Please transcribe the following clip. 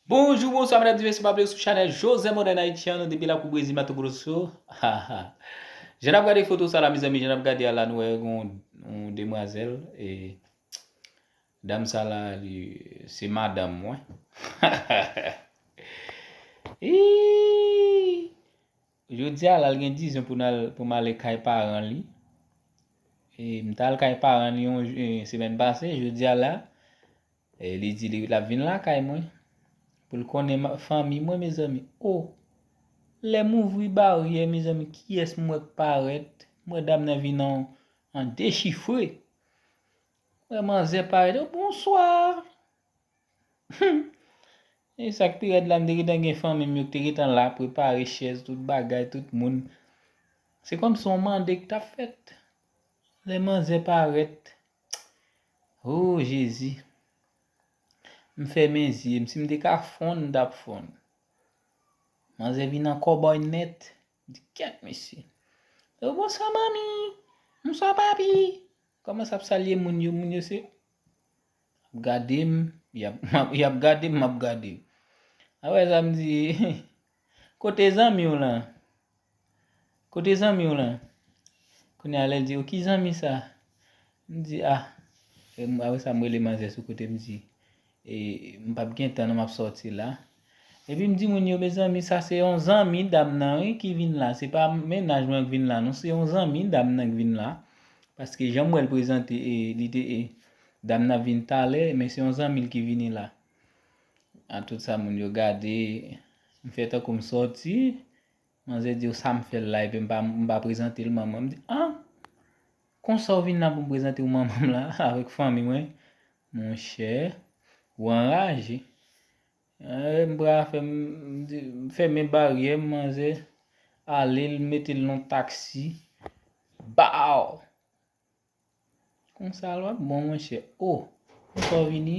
Bonjou, bonswa medam zi mesye m aple sou chanèl Josè modèn Ayitian nou depi lakou Brezil Mato Grosso haha Jan nap gade foto sa la mezanmi jan nap gade a la nou wè gen yon demwazèl e dam sa la li se madanm mwen hahahaa iiiii Jodi a la l gen dizyon pou nal pou m ale kay paran li e m tal kay paran li yon semèn pase jodi a la E li di li lap vin lakay mwen pou l konnen fanmi mwen mezanmi oh lè m ouvri baryè mezanmi kiyès m wè k parèt m wè dam nan vin an an dechifre m wè manzè parèt oh bonswa humm e sak pi rèd la m te gentan gen fanmi m yo k te gentan la prepare chèz tout bagay tout moun se kòmsi on mande k tap fèt lè manzè parèt Ooh jezi M fèmen zye m si m te ka fonn m tap fonn Manzè vin an kòbòy nèt di kèt mesye Oh bonswa manmi Bonswa papi Kòmanse ap salye moun yo moun yo se ap gade m yap gade m map gade yo Aprè sa m di Kote zanmi w lan? Kote zanmi w lan? Kounye a lè l di yo, ki zanmi sa? M di, a, apre sa m rele manzè sou kote m di, e, m p ap gen tan non m ap sòti la. Epi m di moun yo, mezanmi sa se yon zanmi dam nan wi ki vin la, se pa mennaj mwen k vin la non, se yon zanmi dam nan k vin la. Paske jan m wè l prezante e, li te e, dam nan ap vin talè, men se yon zanmi l ki vini la. A tout sa moun yo gade, m fè tankou m sòti, manzè di yo sa m fè la epi m pa m pa prezante l manman. M di an, konsa w vin la pou m prezante w manman m la avèk fanmi mwen? Monchè, ou anraje. Eee, m pral fè m, m di, m fèmen baryè m, manzè ale l mete l nan yon taksi. Baw! Konsa l wap bon monchè. O, konsa w vini?